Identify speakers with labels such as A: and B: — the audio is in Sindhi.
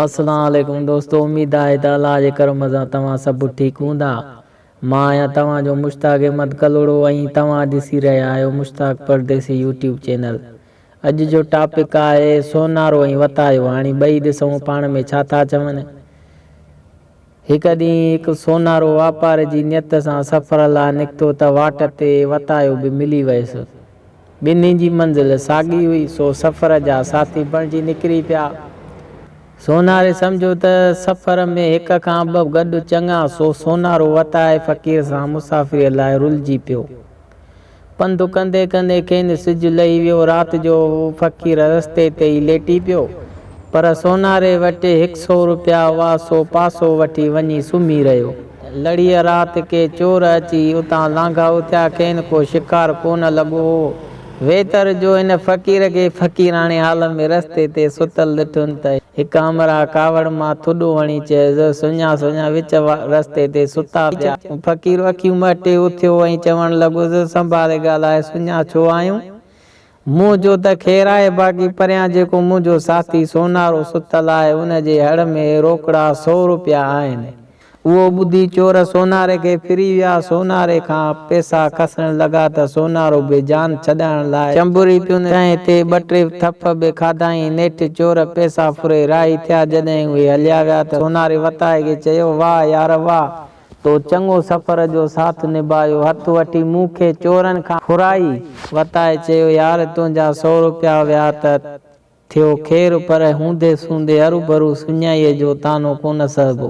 A: السلام عليڪم دوستو اميد آهي ته الله جي ڪرم سان توهان سڀ ٺيڪ هوندا مان آهيان توهان جو مشتاق احمد ڪلهوڙو ۽ توهان ڏسي رهيا آهيو مشتاق پرديسي يوٽيوب چينل اڄ جو ٽاپڪ آهي سونارو ۽ وتايو هاڻي ٻئي ڏسون پاڻ ۾ ڇا ٿا چون هڪ ڏينهن هڪ سونارو واپار جي نيت سان سفر لاء نڪتو ته واٽ تي وتايو به ملي ويس. ٻنهي جي منزل ساڳي هئي، سو سفر جا ساٿي بڻجي نڪري پيا. سوناري سمجهيو ته سفر ۾ هڪ کان ٻه گڏ چڱا، سو سونارو وتائي فقير سان مسافريء لاء رلجي پيو. پنڌ ڪندي ڪندي کين سج لهي ويو. رات جو فقير رستي تي ئي ليٽي پيو. پر سوناري وٽ هڪ سو روپيا هئا، سو پاسو وٺي وڃي سمهي رهيو. لڙيء رات ڪي چور اچي اتان لانگهائو ٿيا. کين ڪو شڪار ڪو نه لڳو هو. ويتر جو هن فقير کي فقيراڻي حال ۾ رستي تي ستل ڏٺن ته هڪ همراهه ڪاوڙ مان ٿڏو هڻي چيس، سڃا سڃا وچ رستي تي ستا پيا. فقير اکيون مهٽي اٿيو ۽ چوڻ لڳو ته سنڀالي ڳالهاء سڃا ڇو آهيون؟ مون چيو ته خير آهي باقي پريان جيڪو منهنجو ساٿي سونارو ستل آهي ان جي هڙ ۾ روڪڙا سؤ روپيا آهن. اهو ٻڌي چور سوناري کي ڦري ويا، سوناري کان پئسا کسڻ لڳا ته سونارو به جان ڇڏائڻ لاء چنبري پيو نه تنهن تي ٻه ٽي ٿڦ به کاڌائين، نيٺ چور پئسا ڦري راهي ٿيا، جڏهن اهي هليا ويا ته سوناري وتائي کي چيو واهه يار واهه تو چڱو سفر جو ساٿ نڀايو. هٿ وٺي مون کي چورن کان ڦرائي. وتائي چيو يار تنهنجا سؤ روپيا ويا ته ٿيو خير پر هوندي سوندي هروڀرو سڃائيء جو طعنو ڪونه سهبو.